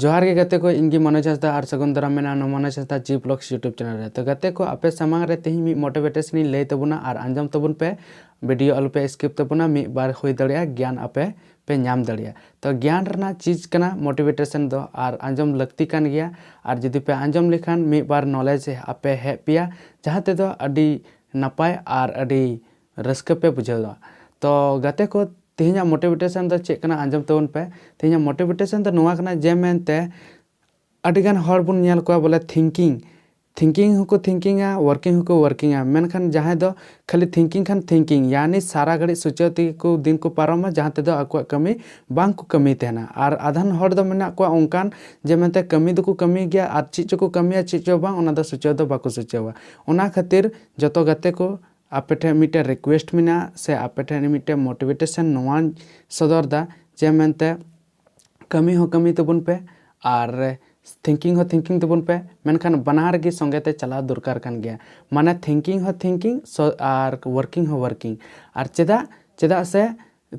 ᱡᱚᱦᱟᱨ ᱜᱮ ᱜᱟᱛᱮ ᱠᱚ ᱤᱧ ᱜᱮ ᱢᱚᱱᱳᱡᱽ ᱦᱟᱸᱥᱫᱟ ᱟᱨ ᱥᱟᱹᱜᱩᱱ ᱫᱟᱨᱟᱢ ᱢᱮᱱᱟᱜᱼᱟ ᱱᱚᱣᱟ Manoj Hansda ji blogs YouTube channel ᱨᱮ ᱛᱚ ᱜᱟᱛᱮ ᱠᱚ ᱟᱯᱮ ᱥᱟᱢᱟᱝ ᱨᱮ ᱛᱮᱦᱮᱧ ᱢᱤᱫ ᱢᱳᱴᱤᱵᱷᱮᱴᱮᱥᱚᱱ ᱤᱧ ᱞᱟᱹᱭ ᱛᱟᱵᱚᱱᱟ ᱟᱨ ᱟᱸᱡᱚᱢ ᱛᱟᱵᱚᱱ ᱯᱮ ᱵᱷᱤᱰᱤᱭᱳ ᱟᱞᱚᱯᱮ ᱥᱠᱤᱯ ᱛᱟᱵᱚᱱᱟ ᱢᱤᱫ ᱵᱟᱨ ᱦᱩᱭ ᱫᱟᱲᱮᱭᱟᱜᱼᱟ ᱜᱮᱭᱟᱱ ᱟᱯᱮ ᱯᱮ ᱧᱟᱢ ᱫᱟᱲᱮᱭᱟᱜᱼᱟ ᱛᱚ ᱜᱮᱭᱟᱱ ᱨᱮᱱᱟᱜ ᱪᱤᱡᱽ ᱠᱟᱱᱟ ᱢᱳᱴᱤᱵᱷᱮᱴᱮᱥᱚᱱ ᱫᱚ ᱟᱨ ᱟᱸᱡᱚᱢ ᱞᱟᱹᱠᱛᱤ ᱠᱟᱱ ᱜᱮᱭᱟ ᱟᱨ ᱡᱩᱫᱤ ᱯᱮ ᱟᱸᱡᱚᱢ ᱞᱮᱠᱷᱟᱱ ᱢᱤᱫ ᱵᱟᱨ ᱱᱚᱞᱮᱡᱽ ᱟᱯᱮ ᱦᱮᱡ ᱯᱮᱭᱟ ᱡᱟᱦᱟᱸ ᱛᱮᱫᱚ ᱟᱹᱰᱤ ᱱᱟᱯᱟᱭ ᱟᱨ ᱟᱹᱰᱤ ᱨᱟᱹᱥᱠᱟᱹ ᱯᱮ ᱵᱩᱡᱷᱟᱹᱣ ᱫᱟ ᱛᱚ ᱜᱟᱛᱮ ᱠᱚ ᱛᱮᱦᱮᱧᱟᱜ ᱢᱳᱴᱤᱵᱷᱮᱴᱮᱥᱚᱱ ᱫᱚ ᱪᱮᱫ ᱠᱟᱱᱟ ᱟᱸᱡᱚᱢ ᱛᱟᱵᱚᱱ ᱯᱮ ᱛᱮᱦᱮᱧᱟᱜ ᱢᱳᱴᱤᱵᱷᱮᱴᱮᱥᱚᱱ ᱫᱚ ᱱᱚᱣᱟ ᱠᱟᱱᱟ ᱡᱮ ᱢᱮᱱᱛᱮ ᱟᱹᱰᱤ ᱜᱟᱱ ᱦᱚᱲ ᱵᱚᱱ ᱧᱮᱞ ᱠᱚᱣᱟ ᱵᱚᱞᱮ ᱛᱷᱤᱝᱠᱤᱝ ᱛᱷᱤᱝᱠᱤᱝ ᱦᱚᱸᱠᱚ ᱛᱷᱤᱝᱠᱤᱝᱟ ᱣᱟᱨᱠᱤᱝ ᱦᱚᱸᱠᱚ ᱣᱟᱨᱠᱤᱝᱟ ᱢᱮᱱᱠᱷᱟᱱ ᱡᱟᱦᱟᱸᱭ ᱫᱚ ᱠᱷᱟᱹᱞᱤ ᱛᱷᱤᱝᱠᱤᱝ ᱠᱷᱟᱱ ᱛᱷᱤᱝᱠᱤᱝ ᱭᱟᱱᱤ ᱥᱟᱨᱟ ᱜᱷᱟᱹᱲᱤᱡ ᱥᱚᱪᱟᱣ ᱛᱮᱜᱮ ᱠᱚ ᱫᱤᱱ ᱠᱚ ᱯᱟᱨᱚᱢᱟ ᱡᱟᱦᱟᱸ ᱛᱮᱫᱚ ᱟᱠᱚᱣᱟᱜ ᱠᱟᱹᱢᱤ ᱵᱟᱝ ᱠᱚ ᱠᱟᱹᱢᱤ ᱛᱟᱦᱮᱱᱟ ᱟᱨ ᱟᱫᱷᱟᱱ ᱦᱚᱲ ᱫᱚ ᱢᱮᱱᱟᱜ ᱠᱚᱣᱟ ᱚᱱᱠᱟᱱ ᱡᱮ ᱢᱮᱱᱛᱮ ᱠᱟᱹᱢᱤ ᱫᱚᱠᱚ ᱠᱟᱹᱢᱤ ᱜᱮᱭᱟ ᱟᱨ ᱪᱮᱫ ᱪᱚᱠᱚ ᱠᱟᱹᱢᱤᱭᱟ ᱪᱮᱫ ᱪᱚ ᱵᱟᱝ ᱚᱱᱟ ᱫᱚ ᱥᱚᱪᱟᱣ ᱫᱚ ᱵᱟᱠᱚ ᱥᱚᱪᱟᱣᱟ ᱚᱱᱟ ᱠᱷᱟᱹᱛᱤᱨ ᱡᱚᱛᱚ ᱜᱟᱛᱮ ᱠᱚ ᱟᱯᱮ ᱴᱷᱮᱱ ᱢᱤᱫᱴᱮᱱ ᱨᱤᱠᱩᱭᱮᱥᱴ ᱢᱮᱱᱟᱜᱼᱟ ᱥᱮ ᱟᱯᱮ ᱴᱷᱮᱱ ᱢᱤᱫᱴᱮᱱ ᱢᱳᱴᱤᱵᱷᱮᱴᱮᱥᱚᱱ ᱱᱚᱣᱟᱧ ᱥᱚᱫᱚᱨ ᱮᱫᱟ ᱡᱮ ᱢᱮᱱᱛᱮ ᱠᱟᱹᱢᱤ ᱦᱚᱸ ᱠᱟᱹᱢᱤ ᱛᱟᱵᱚᱱ ᱯᱮ ᱟᱨ ᱛᱷᱤᱝᱠᱤᱝ ᱦᱚᱸ ᱛᱷᱤᱝᱠᱤᱝ ᱛᱟᱵᱚᱱ ᱯᱮ ᱢᱮᱱᱠᱷᱟᱱ ᱵᱟᱱᱟᱨ ᱜᱮ ᱥᱚᱸᱜᱮ ᱛᱮ ᱪᱟᱞᱟᱣ ᱫᱚᱨᱠᱟᱨ ᱠᱟᱱ ᱜᱮᱭᱟ ᱢᱟᱱᱮ ᱛᱷᱤᱝᱠᱤᱝ ᱦᱚᱸ ᱛᱷᱤᱝᱠᱤᱝ ᱟᱨ ᱳᱣᱟᱨᱠᱤᱝ ᱦᱚᱸ ᱳᱣᱟᱨᱠᱤᱝ ᱟᱨ ᱪᱮᱫᱟᱜ ᱪᱮᱫᱟᱜ ᱥᱮ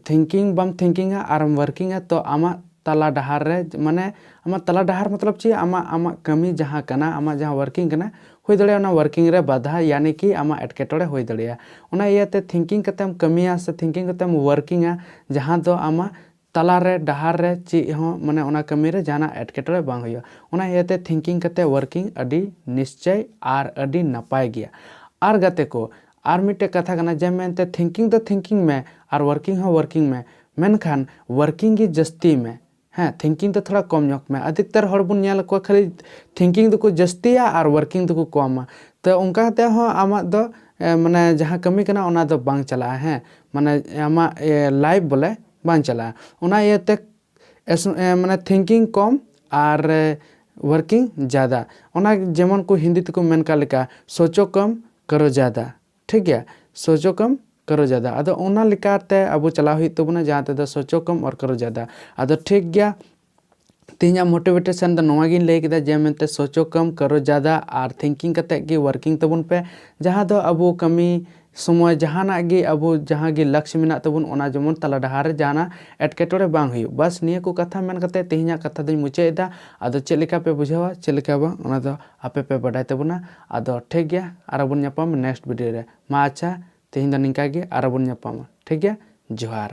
ᱛᱷᱤᱝᱠᱤᱝ ᱵᱟᱢ ᱛᱷᱤᱝᱠᱤᱝ ᱟ ᱟᱨᱮᱢ ᱣᱟᱨᱠᱤᱝ ᱟ ᱛᱚ ᱟᱢᱟᱜ ᱛᱟᱞᱟ ᱰᱟᱦᱟᱨ ᱨᱮ ᱢᱟᱱᱮ ᱟᱢᱟᱜ ᱛᱟᱞᱟ ᱰᱟᱦᱟᱨ ᱢᱚᱛᱞᱚᱵ ᱪᱮᱫ ᱟᱢᱟᱜ ᱟᱢᱟᱜ ᱠᱟᱹᱢᱤ ᱡᱟᱦᱟᱸ ᱠᱟᱱᱟ ᱟᱢᱟᱜ ᱡᱟᱦᱟᱸ ᱣᱟᱨᱠᱤᱝ ᱠᱟᱱᱟ ᱦᱩᱭ ᱫᱟᱲᱮᱭᱟᱜᱼᱟ ᱚᱱᱟ ᱣᱟᱨᱠᱤᱝ ᱨᱮ ᱵᱟᱫᱷᱟ ᱭᱟᱱᱤ ᱠᱤ ᱟᱢᱟᱜ ᱮᱴᱠᱮᱴᱚᱬᱮ ᱦᱩᱭ ᱫᱟᱲᱮᱭᱟᱜᱼᱟ ᱚᱱᱟ ᱤᱭᱟᱹ ᱛᱮ ᱛᱷᱤᱝᱠᱤᱝ ᱠᱟᱛᱮᱢ ᱠᱟᱹᱢᱤᱭᱟ ᱥᱮ ᱛᱷᱤᱝᱠᱤᱝ ᱠᱟᱛᱮᱢ ᱣᱟᱨᱠᱤᱝ ᱟ ᱡᱟᱦᱟᱸ ᱫᱚ ᱟᱢᱟᱜ ᱛᱟᱞᱟ ᱨᱮ ᱰᱟᱦᱟᱨ ᱨᱮ ᱪᱮᱫ ᱦᱚᱸ ᱢᱟᱱᱮ ᱚᱱᱟ ᱠᱟᱹᱢᱤ ᱨᱮ ᱡᱟᱦᱟᱱᱟᱜ ᱮᱴᱠᱮᱴᱚᱬᱮ ᱵᱟᱝ ᱦᱩᱭᱩᱜᱼᱟ ᱚᱱᱟ ᱤᱭᱟᱹ ᱛᱮ ᱛᱷᱤᱝᱠᱤᱝ ᱠᱟᱛᱮ ᱣᱟᱨᱠᱤᱝ ᱟᱹᱰᱤ ᱱᱤᱥᱪᱚᱭ ᱟᱨ ᱟᱹᱰᱤ ᱱᱟᱯᱟᱭ ᱜᱮᱭᱟ ᱟᱨ ᱜᱟᱛᱮ ᱠᱚ ᱟᱨ ᱢᱤᱫᱴᱮᱡ ᱠᱟᱛᱷᱟ ᱠᱟᱱᱟ ᱡᱮ ᱢᱮᱱᱛᱮ ᱛᱷᱤᱝᱠᱤᱝ ᱫᱚ ᱛᱷᱤᱝᱠᱤᱝ ᱢᱮ ᱟᱨ ᱣᱚᱨᱠᱤᱝ ᱦᱚᱸ ᱣᱚᱨᱠᱤᱝ ᱢᱮ ᱢᱮᱱᱠᱷᱟᱱ ᱣᱚᱨᱠᱤᱝ ᱜᱮ ᱡᱟᱹᱥᱛᱤᱭ ᱢᱮ ᱦᱮᱸ ᱛᱷᱤᱝᱠᱤᱝ ᱫᱚ ᱛᱷᱚᱲᱟ ᱠᱚᱢ ᱧᱚᱜᱽ ᱢᱮ ᱟᱫᱷᱤᱠᱛᱟᱨ ᱦᱚᱲ ᱵᱚᱱ ᱧᱮᱞ ᱠᱚᱣᱟ ᱠᱷᱟᱹᱞᱤ ᱛᱷᱤᱝᱠᱤᱝ ᱫᱚᱠᱚ ᱡᱟᱹᱥᱛᱤᱭᱟ ᱟᱨ ᱣᱚᱨᱠᱤᱝ ᱫᱚᱠᱚ ᱠᱚᱢᱟ ᱛᱚ ᱚᱱᱠᱟ ᱠᱟᱛᱮ ᱦᱚᱸ ᱟᱢᱟᱜ ᱫᱚ ᱢᱟᱱᱮ ᱡᱟᱦᱟᱸ ᱠᱟᱹᱢᱤ ᱠᱟᱱᱟ ᱚᱱᱟ ᱫᱚ ᱵᱟᱝ ᱪᱟᱞᱟᱜᱼᱟ ᱦᱮᱸ ᱢᱟᱱᱮ ᱟᱢᱟᱜ ᱞᱟᱭᱤᱯᱷ ᱵᱚᱞᱮ ᱵᱟᱝ ᱪᱟᱞᱟᱜᱼᱟ ᱚᱱᱟ ᱤᱭᱟᱹᱛᱮ ᱢᱟᱱᱮ ᱛᱷᱤᱝᱠᱤᱝ ᱠᱚᱢ ᱟᱨ ᱣᱚᱨᱠᱤᱝ ᱡᱟᱫᱟ ᱚᱱᱟ ᱡᱮᱢᱚᱱ ᱠᱚ ᱦᱤᱱᱫᱤ ᱛᱮᱠᱚ ᱢᱮᱱ ᱠᱟᱜ ᱞᱮᱠᱟ ᱥᱳᱪᱳ ᱠᱚᱢ ᱠᱟᱨᱚ ᱡᱟᱫᱟ ᱴᱷᱤᱠ ᱜᱮᱭᱟ ᱥᱚᱪᱚᱠᱚᱢ ᱠᱟᱨᱚ ᱡᱟᱫᱟ ᱟᱫᱚ ᱚᱱᱟ ᱞᱮᱠᱟ ᱛᱮ ᱟᱵᱚ ᱪᱟᱞᱟᱣ ᱦᱩᱭᱩᱜ ᱛᱟᱵᱚᱱᱟ ᱡᱟᱦᱟᱸ ᱛᱮᱫᱚ ᱥᱚᱪᱚᱠᱚᱢ ᱚᱨ ᱠᱟᱨᱚ ᱡᱟᱫᱟ ᱟᱫᱚ ᱴᱷᱤᱠ ᱜᱮᱭᱟ ᱛᱮᱦᱮᱧᱟᱜ ᱢᱳᱴᱤᱵᱷᱮᱴᱮᱥᱚᱱ ᱫᱚ ᱱᱚᱣᱟ ᱜᱤᱧ ᱞᱟᱹᱭ ᱠᱮᱫᱟ ᱡᱮ ᱢᱮᱱᱛᱮ ᱥᱚᱪᱚᱠᱚᱢ ᱠᱟᱨᱚ ᱡᱟᱫᱟ ᱟᱨ ᱛᱷᱤᱝᱠᱤᱝ ᱠᱟᱛᱮ ᱜᱮ ᱣᱟᱨᱠᱤᱝ ᱛᱟᱵᱚᱱ ᱯᱮ ᱡᱟᱦᱟᱸ ᱫᱚ ᱟᱵᱚ ᱠᱟᱹᱢᱤ ᱥᱚᱢᱚᱭ ᱡᱟᱦᱟᱱᱟᱜ ᱜᱮ ᱟᱵᱚ ᱡᱟᱦᱟᱸ ᱜᱮ ᱞᱟᱠᱥ ᱢᱮᱱᱟᱜ ᱛᱟᱵᱚᱱ ᱚᱱᱟ ᱡᱮᱢᱚᱱ ᱛᱟᱞᱟ ᱰᱟᱦᱟᱨ ᱨᱮ ᱡᱟᱦᱟᱱᱟᱜ ᱮᱴᱠᱮᱴᱚᱬᱮ ᱵᱟᱝ ᱦᱩᱭᱩᱜ ᱵᱟᱥ ᱱᱤᱭᱟᱹ ᱠᱚ ᱠᱟᱛᱷᱟ ᱢᱮᱱ ᱠᱟᱛᱮ ᱛᱮᱦᱮᱧᱟᱜ ᱠᱟᱛᱷᱟ ᱫᱚᱧ ᱢᱩᱪᱟᱹᱫ ᱮᱫᱟ ᱟᱫᱚ ᱪᱮᱫ ᱞᱮᱠᱟ ᱯᱮ ᱵᱩᱡᱷᱟᱹᱣᱟ ᱪᱮᱫ ᱞᱮᱠᱟ ᱵᱟᱝ ᱚᱱᱟ ᱫᱚ ᱟᱯᱮ ᱯᱮ ᱵᱟᱰᱟᱭ ᱛᱟᱵᱚᱱᱟ ᱟᱫᱚ ᱴᱷᱤᱠ ᱜᱮᱭᱟ ᱟᱨᱚ ᱵᱚᱱ ᱧᱟᱯᱟᱢᱟ ᱱᱮᱠᱥᱴ ᱵᱷᱤᱰᱤᱭᱳ ᱨᱮ ᱢᱟ ᱟᱪᱪᱷᱟ ᱛᱮᱦᱮᱧ ᱫᱚ ᱱᱤᱝᱠᱟ ᱜᱮ ᱟᱨᱚ ᱵᱚᱱ ᱧᱟᱯᱟᱢᱟ ᱴᱷᱤᱠ ᱜᱮᱭᱟ ᱡᱚᱦᱟᱨ᱾